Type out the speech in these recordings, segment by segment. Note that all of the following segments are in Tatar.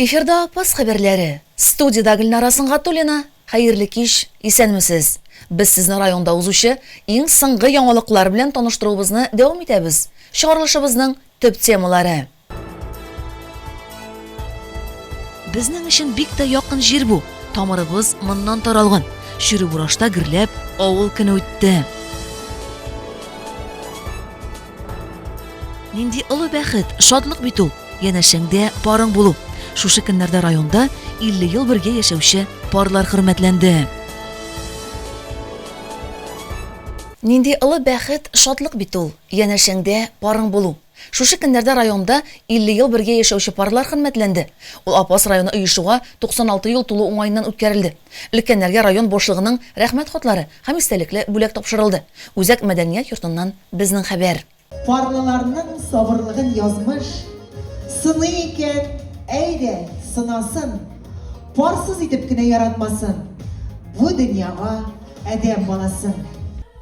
Эфирда Апас хәбәрләре. Студиядә Гөлнара Сынгатуллина. Хәерле кич, исәнмесез. Без сезне районда узучы иң соңгы яңалыклар белән таныштыруыбызны дәвам итәбез. Чыгарылышыбызның төп темалары. Безнең өчен бик тә якын җир бу. Тамырыбыз моннан таралган. Чүрү бурашта гөрләп, авыл көне үтте. Нинди олы бәхет, шатлык бит ул, янәшәңдә парың булу. Шушы көннәрдә районда 50 ел бергә яшәүче парлар хөрмәтләнде. Нинди олы бәхет, шатлык бит ул, янәшәңдә парың булу. Шушы көннәрдә районда 50 ел бергә яшәүче парлар хөрмәтләнде. Ул Апас районы оешуга 96 ел тулу уңаеннан үткәрелде. Өлкәннәргә район башлыгының Рәхмәт хатлары һәм истәлекле бүләк тапшырылды. Үзәк мәдәният йортыннан безнең хәбәр. Парлыларның сабырлыгын язмыш сыный икән, әйдә, сынасын! Парсыз итеп кенә яратмасын Бу дөньяга адәм баласын.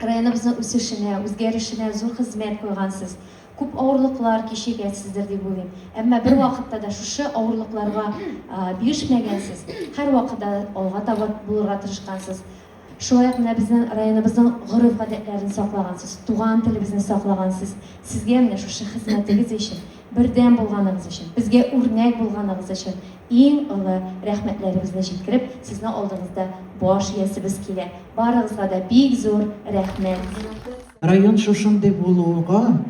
районыбызның үсешенә, үзгәрешенә зур хезмәт куйгансыз. Күп авырлыклар кичергәнсездер дип уйлыйм. Әмма бер вакытта да шушы авырлыкларга бирешмәгәнсез. Һәр вакытта алга таба булырга тырышкансыз. Шулай ук менә безнең районыбызның гореф-гадәтләрен саклагансыз, туган телебезне саклагансыз. Сезгә менә шушы хезмәтегез өчен бердәм булганыгыз өчен, безгә үрнәк булганыгыз өчен иң олы рәхмәтләребезне җиткереп, сезнең алдыгызда баш иясебез килә. Барыгызга да бик зур рәхмәт! Район шушындый булуга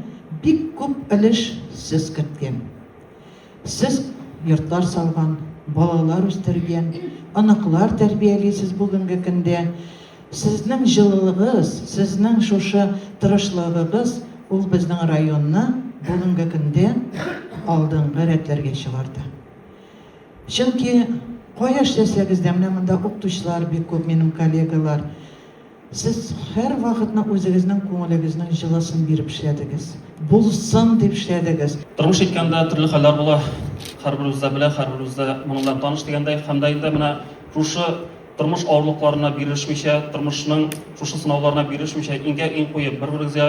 бик күп өлеш сез керткән. Сез йортлар салган, балалар үстергән, оныклар тәрбиялисез бүгенге көндә. Сезнең җылылыгыз, сезнең шушы тырышлыгыгыз ул безнең районны бүгенге көндә алдынгы рәтләргә чыгарды. Чөнки кая эшләсәгез дә, менә монда укытучылар бик күп, минем коллегалар. Сез һәрвакытны үзегезнең күңелегезнең җылысын биреп эшләдегез. Булсын дип эшләдегез. Тормыш иткәндә төрле хәлләр була. Һәрберебез дә белә, һәрберебез дә моның белән таныш дигәндәй. Һәм дә инде менә шушы Тормыш авырлыкларына бирешмичә, тормышның шушы сынауларына бирешмичә, иңгә-иң куеп, бер-берегезгә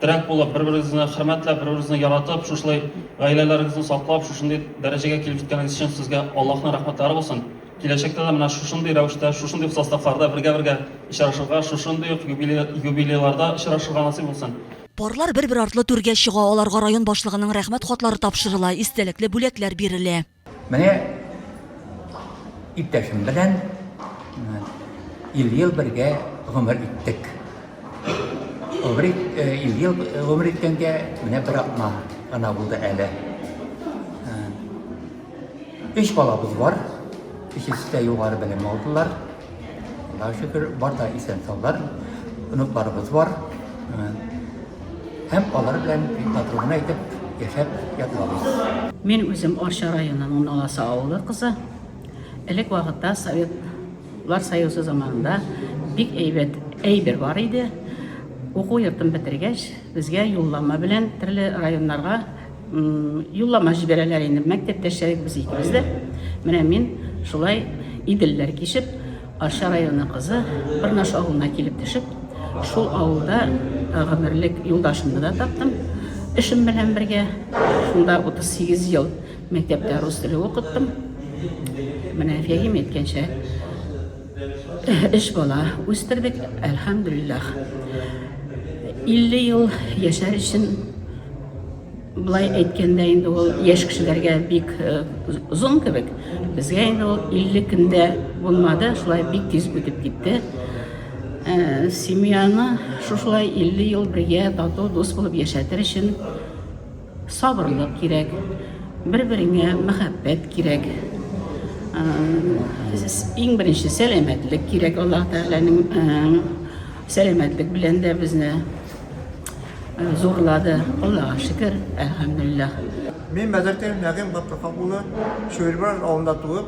терәк булып, бер-берегезне хөрмәтләп, бер-берегезне яратып, шушылай гаиләләрегезне саклап, шушындый дәрәҗәгә килеп җиткәнегез өчен сезгә Аллаһның рәхмәтләре булсын. Киләчәктә дә менә шушындый рәвештә, шушындый составларда бергә-бергә очрашырга, шушындый ук юбилейларда очрашырга насыйп булсын. Парлар бер-бер артлы түргә чыга, аларга район башлыгының рәхмәт хатлары тапшырыла, истәлекле бүләкләр бирелә. Менә иптәшем белән ел-ел бергә гомер иттек. Гомер ел-ел гомер иткәнгә менә бер атна гына булды әле. Өч балабыз бар. Өчесе дә югары белем алдылар. Аллаһыга шөкер, бар да исән-саулар, оныкларыбыз бар. Һәм алар белән бик матур гына итеп яшәп ятабыз. Мин үзем Арча районының Наласы авылы кызы. Элек вакытта Советлар Союзы заманында бик әйбәт әйбер бар иде. Уку йортын бетергәч, безгә юллама белән төрле районнарга Юллама җибәрәләр инде, мәктәптәшләребез икебез дә. Менә мин шулай Иделләр кичеп, Арча районы кызы Бырнаш авылына килеп төшеп, шул авылда э, гомерлек юлдашымны да таптым. Эшем белән бергә шунда 38 ел мәктәптә рус теле укыттым. Менә Фәгим әйткәнчә, Өч бала үстердек, әлхәмдүлилләх. 50 ел яшәр өчен былай әйткәндә инде ул яшь кешеләргә бик э, озын кебек безгә инде ул 50 көндә булмады шулай бик тиз үтеп китте э, семьяны шушылай 50 ел бергә тату дус булып яшәтер өчен Сабырлык кирәк, бер-береңә мәхәббәт кирәк. Иң беренче сәламәтлек кирәк Аллаһ Тәгаләнең сәламәтлек белән дә безне зурлады. Аллаһка шөкер, әлхәмдүлилләһ. Мин Мәзәкәев Нәгыйм Габдулхак улы, Чуербаш авылында туып,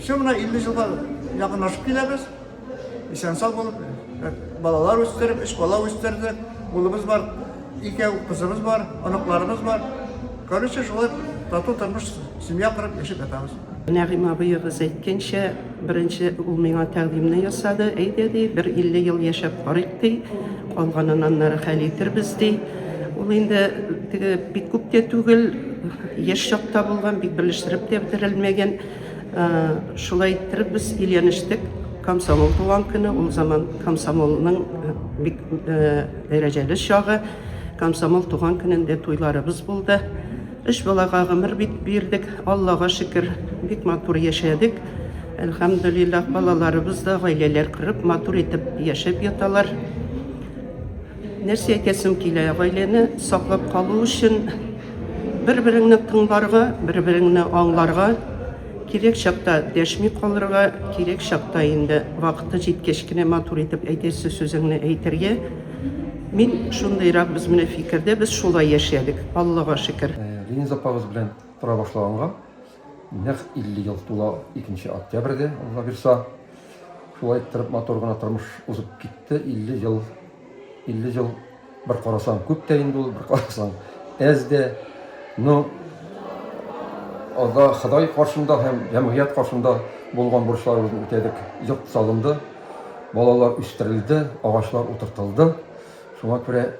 Все, менә 50 елга якынлашып киләбез. Исән-сау булып, э, балалар үстереп, өч бала үстердек. Улыбыз бар, икәү кызыбыз бар, оныкларыбыз бар. Короче, шулай тату тормыш, семья корып яшәп ятабыз. Нәгыйм абыегыз әйткәнчә, беренче ул миңа тәкъдимне ясады. Әйдә ди, бер 50 ел яшәп карыйк ди. Калганын аннары хәл итербез ди. Ул инде теге бик күп тә түгел, яшь чакта булган, бик белештереп тә бетерелмәгән. Шулай иттереп без өйләнештек. Комсомол туган көне, ул заман комсомолның бик дәрәҗәле чагы. Комсомол туган көнендә туйларыбыз булды. Өч балага гомер бит бирдек. Аллага шөкер, бик матур яшәдек. Әлхәмдулиллах, балаларыбыз да гаиләләр корып, матур итеп яшәп яталар. Нәрсә әйтәсем килә, гаиләне саклап калу өчен бер-береңне тыңларга, бер-береңне аңларга, кирәк чакта дәшми калырга, кирәк чакта инде вакыты җиткәч кенә матур итеп әйтәсе сүзеңне әйтергә. Мин шундыйрак без менә фикердә, без шулай яшәдек, Аллага шөкер. Лениза апагыз белән тора башлаганга Нәкъ 50 ел тула икенче октябрьдә, Алла бирса. Шулай иттереп матур гына тормыш узып китте. 50 ел, 50 ел бер карасаң күп тә инде ул, бер карасаң әз дә. Но Алла Ходай каршында һәм җәмгыять каршында булган бурычларыбызны үтәдек. Йорт салынды, балалар үстерелде, агачлар утыртылды. Шуңа күрә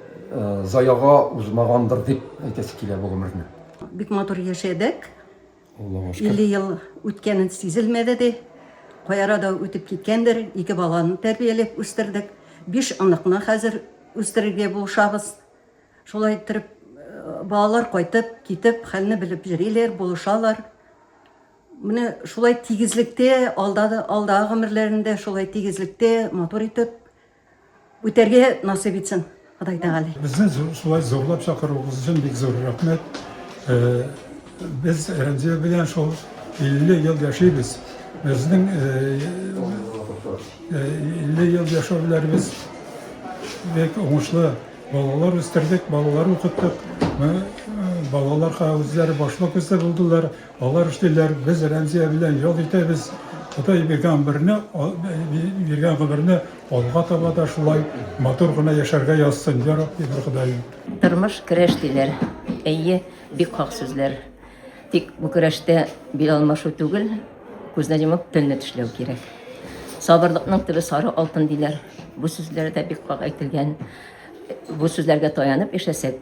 заяга узмагандыр дип әйтәсе килә бу гомерне. Бик матур яшәдек. Аллага шөкер. 50 ел үткәнен сизелмәде ди. Каяра да үтеп киткәндер. Ике баланы тәрбияләп үстердек. Биш оныкны хәзер үстерергә булышабыз. Шулай иттереп, э, балалар кайтып, китеп, хәлне белеп йөриләр, булышалар. Менә шулай тигезлектә, алда да- алдагы гомерләрендә шулай тигезлектә, матур итеп Үтәргә насыйп итсен Ходай Тәгалә. Безне шулай зурлап чакыруыгыз өчен бик зур рәхмәт. Э, без Рәмзия белән шул 50 ел яшибез. Безнең 50 ел яшәүләребез бик уңышлы. Балалар үстердек, балалар укыттык. Балаларга үзләре башлык үзе булдылар. Алар эшлиләр, без Рәмзия белән ял итәбез. Ходай биргән гомерне, биргән гомерне алга таба да шулай матур гына яшәргә язсын, я Рабби, бер Ходаем. Тормыш көрәш диләр. Әйе, бик хак сүзләр. Тик бу көрәштә бил алмашу түгел, күзне йомып телне тешләү кирәк. Сабырлыкның төбе сары алтын диләр. Бу сүзләр дә бик хак әйтелгән. Бу сүзләргә таянып яшәсәк,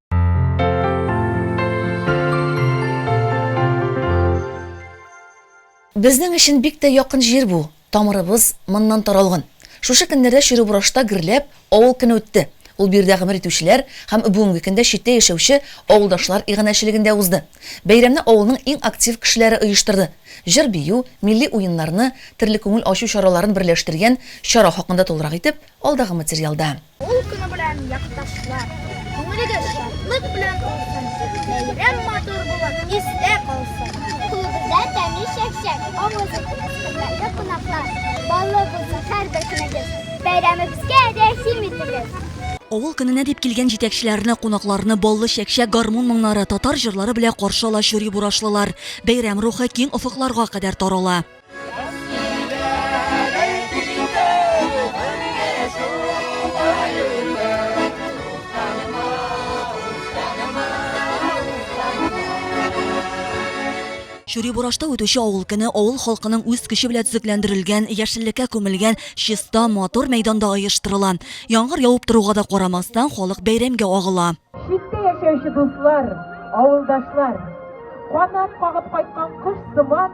Безнең өчен бик тә якын җир бу, тамырыбыз моннан таралган. Шушы көннәрдә Чирубрашта гөрләп авыл көне үтте. Ул биредә гомер итүчеләр һәм бүгенге көндә читтә яшәүче авылдашлар иганәчелегендә узды. Бәйрәмне авылның иң актив кешеләре оештырды. Җыр-бию, милли уеннарны, төрле күңел ачу чараларын берләштергән чара хакында тулырак итеп, алдагы материалда. Ул көне белән, якташлар, күңелегез шатлык белән тулсын, бәйрәм матур булып, истә калсын. Күңелегездә тәмле чәк-чәк, авызы хөрмәтле кунаклар, баллы булсын һәрбер көнегез, бәйрәмебезгә рәхим итегез. Авыл көненә дип килгән җитәкчеләрне, кунакларны баллы чәк-чәк гармун моңнары, татар җырлары белә каршы ала чури-бурашлылар. Бәйрәм рухы киң офыкларга кадәр тарала. Чури Бурашта үтүче авыл көне авыл халкының үз көче белән төзекләндерелгән, яшеллеккә күмелгән чиста, матур мәйданда оештырыла. Яңгыр явып торуга да карамастан, халык бәйрәмгә агыла. Читтә яшәүче дуслар, авылдашлар, канат кагып кайткан кош сыман,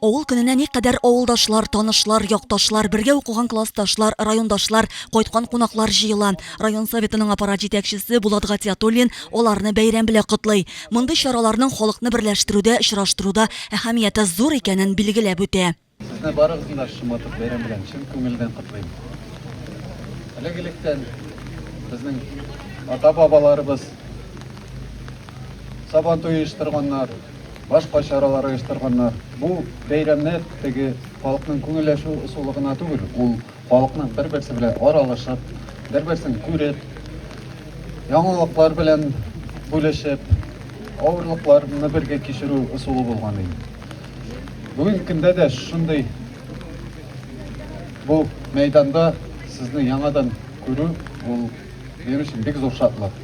Авыл көненә никадәр авылдашлар, танышлар, якташлар, бергә укыган классташлар, райондашлар, кайткан кунаклар җыела. Район Советының аппарат җитәкчесе Булат Гатиятуллин аларны бәйрәм белә котлый. Мондый чараларның халыкны берләштерүдә, очраштыруда әһәмияте зур икәнен билгеләп үтә. Сезне барыгызны да шоматып бәйрәм белән чын күңелдән котлыйм. Элек-электән безнең ата-бабаларыбыз Сабантуй оештырганнар. башка чаралар оештырганнар. Бу бәйрәмнәр теге халыкның күңелләшү ысулы гына түгел, ул халыкның бер-берсе белән аралашып, бер-берсен күреп, яңалыклар белән бүлешеп, авырлыкларны бергә кичерү ысулы булган иде. Бүгенге көндә дә шундый бу мәйданда сезне яңадан күрү ул минем өчен бик зур шатлык.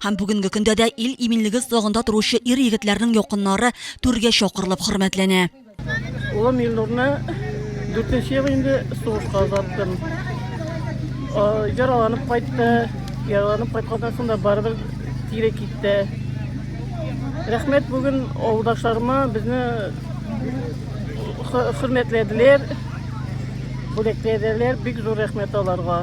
Һәм бүгенге көндә дә ил иминлеге слагында торучы ир-егетләрнең якыннары түргә чакырылып хөрмәтләнә. Улым Илнурны 4 ел инде сугышка озаттым. Яраланып кайтты. Яраланып кайтканнан соң да барыбер тире китте. Рәхмәт бүген авылдашларыма безне хөрмәтләделәр. Бүләкләделәр. Бик зур рәхмәт аларга.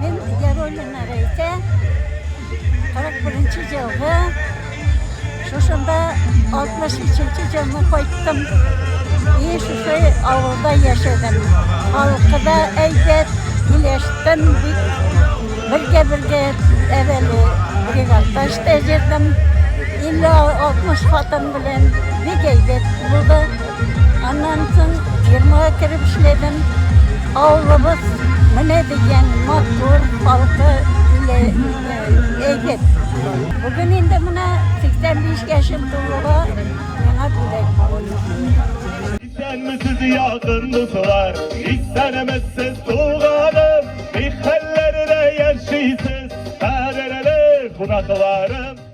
Мин Яруллин Рәйкә, 41 елгы, шушында 63 елны кайттым. И шушы авылда яшәдем. Халкы да әйбәт, килештем бик. Бергә-бергә әвәле бригадта эштә җирдем. 50-60 хатын белән бик әйбәт булды. Аннан соң фирмага кереп эшләдем. Авылыбыз менә дигән матур, халкы иле әйбәт. Бүген инде менә 85 яшем тулуга миңа бүләк булды. Исәнмесез якын дуслар, исәнмесез туганым, ни хәлләрдә яшисез, кадерле кунакларым.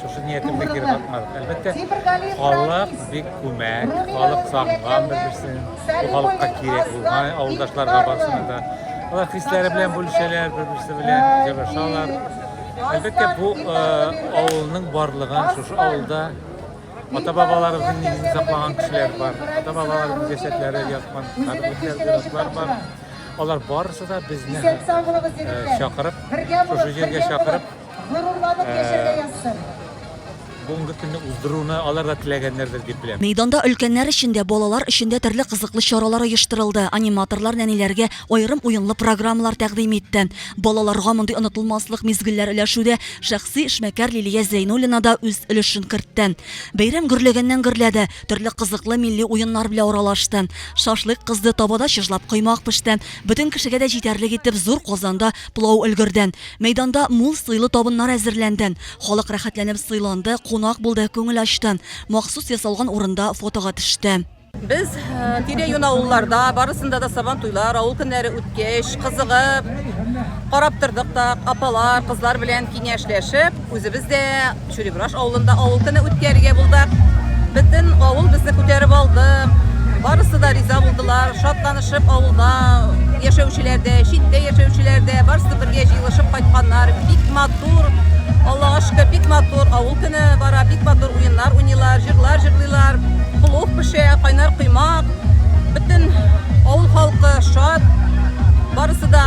шушы ниятемдә кире кайтмадык. Әлбәттә, халык бик күмәк, халык сагынган бер-берсен. Бу халыкка кирәк булган авылдашларга барсына да. Алар хисләре белән бүлешәләр, бер-берсе белән җырашалар. Әлбәттә, бу авылның барлыгын шушы авылда ата-бабаларыбызның нигезен саклаган кешеләр бар. Ата-бабаларыбыз җәсәдләре яткан, каберлектәр бар. Алар барысы да безне чакырып, шушы җиргә чакырып, Горурланып яшәргә язсын. Бүгенге көнне уздыруны алар да теләгәннәрдер дип беләм. Мәйданда өлкәннәр өчен дә, балалар өчен дә төрле кызыклы чаралар оештырылды. Аниматорлар нәниләргә аерым уенлы программалар тәкъдим итте. Балаларга мондый онытылмаслык мизгелләр өләшүдә шәхси эшмәкәр Лилия Зәйнуллина да үз өлешен кертте. Бәйрәм гөрләгәннән-гөрләде, төрле кызыклы милли уеннар белә аралашты. Шашлык кызды, табада чыжлап коймак пеште. Бөтен кешегә дә җитәрлек итеп зур казанда Плау өлгерден. Мәйданда мул сыйлы табыннар әзерләнден. Халык рәхәтләнеп сыйланды, кунак булды, күңел ачты. Махсус ясалган урында фотога төште. Без тирә-юнь авылларда, барысында да сабан туйлар, авыл көннәре үткәч, кызыгып, карап тордык та, апалар, кызлар белән киңәшләшеп, үзебез дә Чүрибраш авылында авыл көне үткәрергә булдык. Бөтен авыл безне күтәреп алды. Барысы да риза булдылар. Шатланышып авылда яшәүчеләр дә, читтә яшәүчеләр дә барысы бергә җыелышып кайтканнар. Бик матур. Аллага шөкер, бик матур. Авыл көне бара, бик матур уеннар уйныйлар, җырлар җырлыйлар. Плов пешә, кайнар коймак. Бөтен авыл халкы шат. Барысы да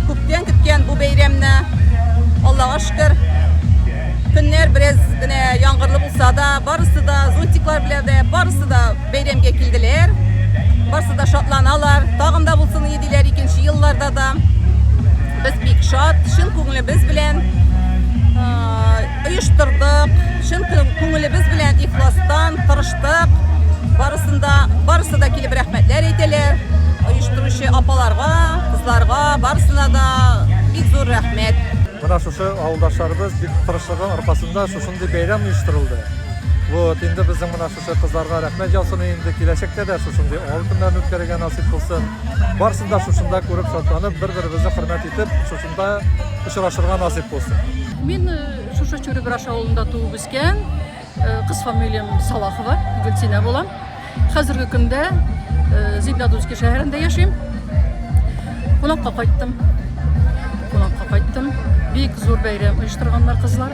күптән көткән бу бәйрәмне. Аллага Хәзер көннәр бераз генә яңгырлы булса да, барысы да зонтиклар белән дә, барысы да бәйрәмгә килделәр. Барысы да шатланалар. Тагын да булсын иде диләр икенче елларда да. Без бик шат, чын күңелебез белән оештырдык. Чын күңелебез белән ихластан тырыштык. Барысында барысы да килеп рәхмәтләр әйтәләр. Оештыручы апаларга, кызларга, барысына да бик зур рәхмәт. Менә шушы авылдашларыбыз бик тырышлыгы аркасында шушындый бәйрәм оештырылды. Вот, инде безнең менә шушы кызларга рәхмәт яусын инде киләчәктә дә шушындый авыл көннәрен үткәрергә насыйп булсын. Барсын да шушында күреп шатланып, бер-беребезне хөрмәт итеп, шушында очрашырга насыйп булсын. Мин э, шушы Чүребраш авылында туып үскән. Кыз фамилиям Салахова, Гөлсинә булам. Хәзерге көндә Зиндадузский шәһәрендә яшим. Кунакка кайттым. Кунакка кайттым. Бик зур бәйрәм оештырганнар кызлар.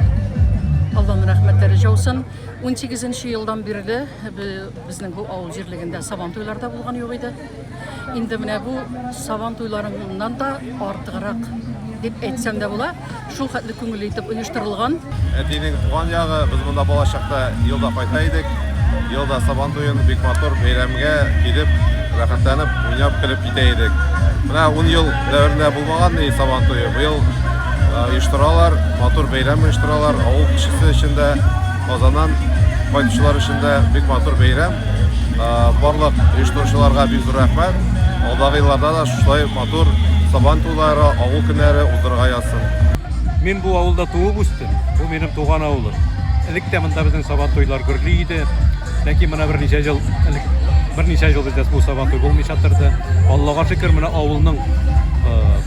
Алланың рәхмәтләре жаусын. 18 елдан бирле безнең бу авыл җирлегендә сабан туйларда булган юк иде. Инде менә бу сабан туйларыннан да артыграк дип әйтсәм дә була. Шул хәтле күңелле итеп оештырылган. Әтинең туган ягы, без монда бала чакта елда кайта идек. Елда сабан туен бик матур бәйрәмгә килеп, рәхәтләнеп, уйнап, көлеп китә идек. Менә 10 ел дәверендә булмаган ни сабан туе. Быел оештыралар, матур бәйрәм оештыралар, авыл кешесе өчен дә Казаннан кайтучылар өчен дә бик матур бәйрәм. Барлык оештыручыларга бик зур рәхмәт. Алдагы елларда да шулай матур Сабан туйлары, авыл көннәре уздырырга язсын. Мин бу авылда туып үстем. Бу минем туган авылым. Элек тә монда безнең Сабан туйлар гөрли иде. Ләкин менә берничә ел элек берничә ел бездә бу Сабан туй булмыйча торды. Аллага шөкер, менә авылның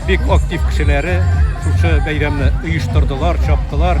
бик актив кешеләре шушы бәйрәмне оештырдылар, чаптылар.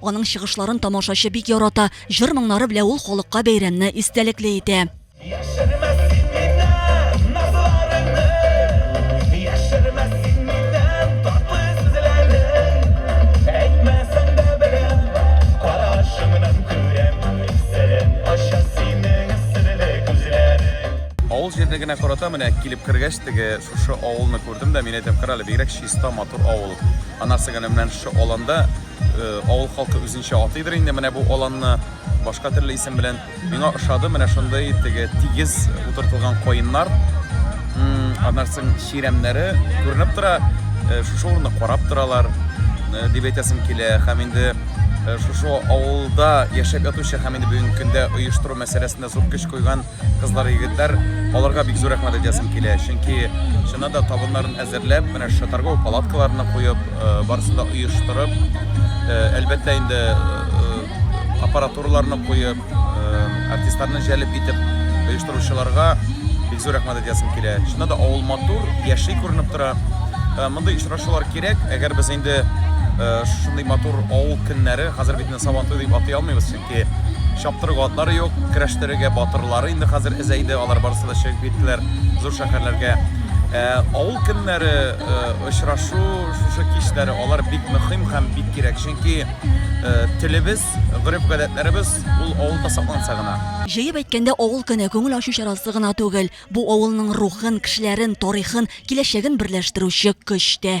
Аның чыгышларын тамашачы бик ярата. Җыр-моңнары белән ул халыкка бәйрәмне истәлекле итә. җирне генә карата менә килеп кергәч теге шушы авылны күрдем дә мин әйтәм карале бигрәк чиста матур авыл анасы генә менә шушы аланда Э, авыл халкы үзенчә атыйдыр инде менә бу аланны башка төрле исем белән миңа ошады менә шундый теге тигез утыртылган каеннар аннан соң чирәмнәре күренеп тора э, шушы урынны карап торалар э, дип әйтәсем килә һәм инде шушы авылда яшәп ятучы һәм инде бүгенге көндә оештыру мәсьәләсендә зур көч куйган Кызлар, егетләр, аларга бик зур рәхмәт әйтәсем килә, чөнки чыннан да табыннарын әзерләп, менә шушы торговый палаткаларны куеп, э, барысын да оештырып, э, әлбәттә инде э, аппаратураларны куеп, артистларны җәлеп итеп оештыручыларга бик зур рәхмәт әйтәсем килә. Чыннан да авыл матур, яши күренеп тора. Мондый очрашулар кирәк, әгәр без инде шундый матур авыл көннәре, хәзер бит менә Сабантуй дип атый алмыйбыз чөнки чөнки чаптыру атлары юк, көрәштерергә батырлары инде хәзер әзәйде, алар барысы да чыгып киттеләр зур шәһәрләргә. Ә, авыл көннәре ә, очрашу шушы кичләре алар бик мөһим һәм бик кирәк, чөнки ә, телебез, гореф-гадәтләребез ул авылда сакланса гына. Җыеп әйткәндә, авыл көне күңел ачу чарасы гына түгел, бу авылның рухын, кешеләрен, тарихын, киләчәген берләштерүче көч тә.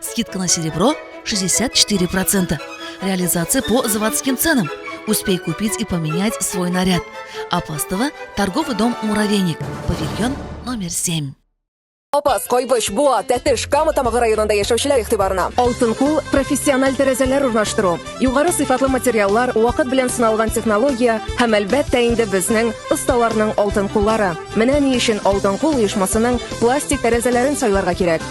Скидка на серебро 64%. Реализация по заводским ценам. Успей купить и поменять свой наряд. Апастово, торговый дом «Муравейник», павильон номер 7. Апас, Кайбыч, Буа, Тәтеш, Кама Тамагы районында яшәүчеләр игътибарына. Алтын кул профессиональ тәрәзәләр урнаштыру, югары сыйфатлы материаллар, вакыт белән сыналган технология һәм әлбәттә инде безнең осталарның алтын куллары. Менә ни өчен Алтын кул оешмасының пластик тәрәзәләрен сайларга кирәк.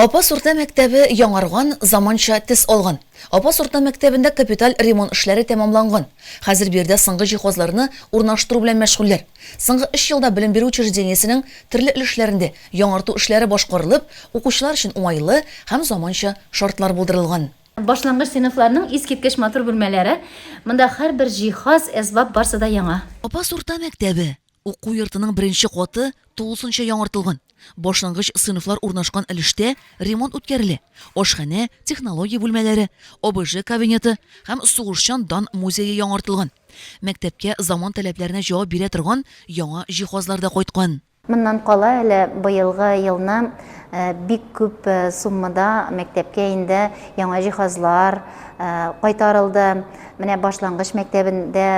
Апас урта мәктәбе яңарган, заманча тез алган. Апас урта мәктәбендә капиталь ремонт эшләре тәмамланган. Хәзер биредә соңгы җиһазларны урнаштыру белән мәшгульләр. Соңгы 3 елда белем бирү учреждениесенең төрле өлешләрендә яңарту эшләре башкарылып, укучылар өчен уңайлы һәм заманча шартлар булдырылган. Башлангыч сыйныфларның искиткеч матур бүлмәләре, монда һәрбер җиһаз, әсбап барсы да яңа. Апас урта мәктәбе, уку йортының беренче каты тулысынча яңартылган. Башлангыч сыйныфлар урнашкан өлештә ремонт үткәрелә, ашханә, технология бүлмәләре, ОБЖ кабинеты һәм сугышчан дан музее яңартылган. Мәктәпкә заман таләпләренә җавап бирә торган яңа җиһазлар да кайткан. Моннан кала әле быелгы елны бик күп суммада мәктәпкә инде яңа җиһазлар кайтарылды. Менә башлангыч мәктәбендә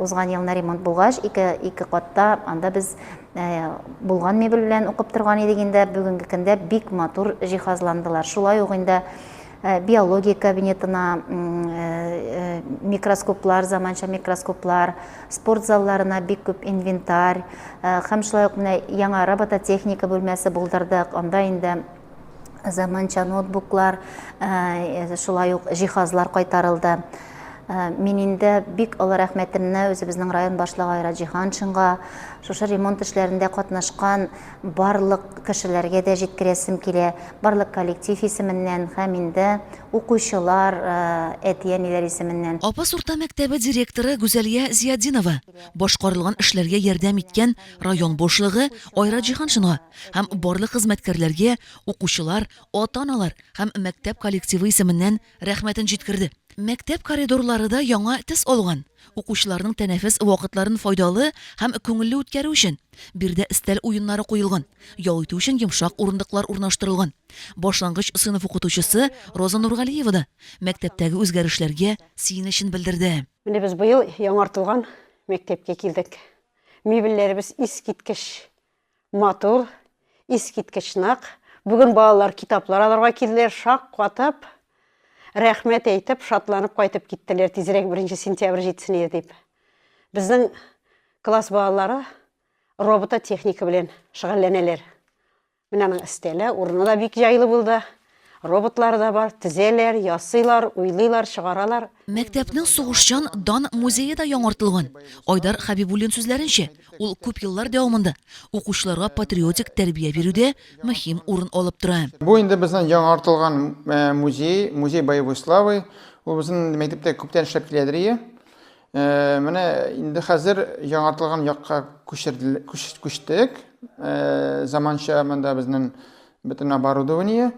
узган елны ремонт булгач, ике, ике катта анда без булган мебель белән укып торган идек инде. Бүгенге көндә бик матур җиһазландылар. Шулай ук инде Э, биология кабинетына э, э, микроскоплар заманча микроскоплар спорт залларына бик күп инвентарь һәм шулай ук менә яңа робототехника бүлмәсе булдырдык анда инде заманча ноутбуклар шулай ук җиһазлар кайтарылды мин инде бик олы рәхмәтемне үзебезнең район башлыгы айра җиһаншинга шушы ремонт эшләрендә катнашкан барлык кешеләргә дә җиткерәсем килә, барлык коллектив исеменнән һәм инде укучылар, әти-әниләр исеменнән. Апас урта мәктәбе директоры Гүзәлия Зиятдинова башкарылган эшләргә ярдәм иткән район башлыгы Айрат Җиһаншинга һәм барлык хезмәткәрләргә, укучылар, ата-аналар һәм мәктәп коллективы исеменнән Рәхмәтен җиткерде. Мәктәп коридорлары да яңа төс алган. Укучыларның тәнәфес вакытларын файдалы һәм күңелле үткәрү өчен, биредә өстәл уеннары куелган, ял итү өчен йомшак урындыклар урнаштырылган. Башлангыч сыйныф укытучысы Роза Нургалиева да мәктәптәге үзгәрешләргә сөенечен белдерде. Менә без быел яңартылган мәктәпкә килдек. Мебельләребез искиткеч! Матур, искиткеч нык. Бүген балалар китаплар алырга килделәр, шаккатып, рәхмәт әйтеп, шатланып кайтып киттеләр, тизрәк 1 сентябрь җитсен иде дип. Безнең класс балалары робототехника белән шөгыльләнәләр. Менә аның өстәле, урыны да бик җайлы булды. Роботлар да бар, тезәләр, ясыйлар, уйлыйлар, чыгаралар. Мәктәпнең сугышчан дан музее да яңартылган. Айдар Хәбибуллин сүзләренчә, ул күп еллар дәвамында укучыларга патриотик тәрбия бирүдә мөһим урын алып тора. Бу инде безнең яңартылган музей, музей боевой славы. Ул безнең мәктәптә күптән эшләп киләдер ие. Э, менә инде хәзер яңартылган якка күчтек. Э, заманча монда безнең бөтен оборудование.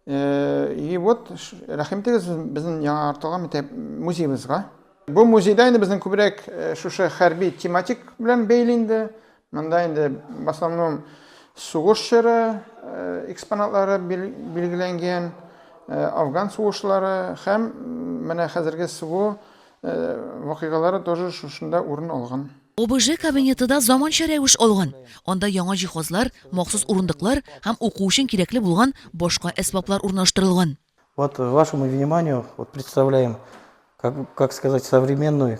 Э, и вот рәхим итегез безнең яңартылган мәктәп музеебызга. Бу музейда инде безнең күбрәк шушы хәрби тематик белән бәйле инде. Монда инде в основном сугыш чоры экспонатлары билгеләнгән, афган сугышлары һәм менә хәзерге СВО вакыйгалары тоже шушында урын алган. ОБЖ кабинеты да заманча рәвеш алган. Анда яңа җиһазлар, махсус урындыклар һәм уку өчен кирәкле булган башка әсбаплар урнаштырылган. Вот вашему вниманию вот представляем, как как сказать, современную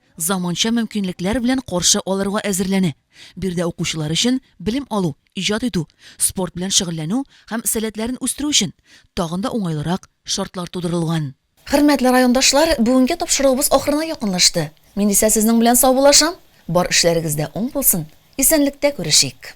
заманча мөмкинлекләр белән каршы алырга әзерләнә. Биредә укучылар өчен белем алу, иҗат итү, спорт белән шөгыльләнү һәм сәләтләрен үстерү өчен тагын да уңайлырак шартлар тудырылган. Хөрмәтле райондашлар, бүгенге тапшыруыбыз ахырына якынлашты. Мин исә сезнең белән саубуллашам. Бар эшләрегез дә уң булсын. Исәнлектә күрешик!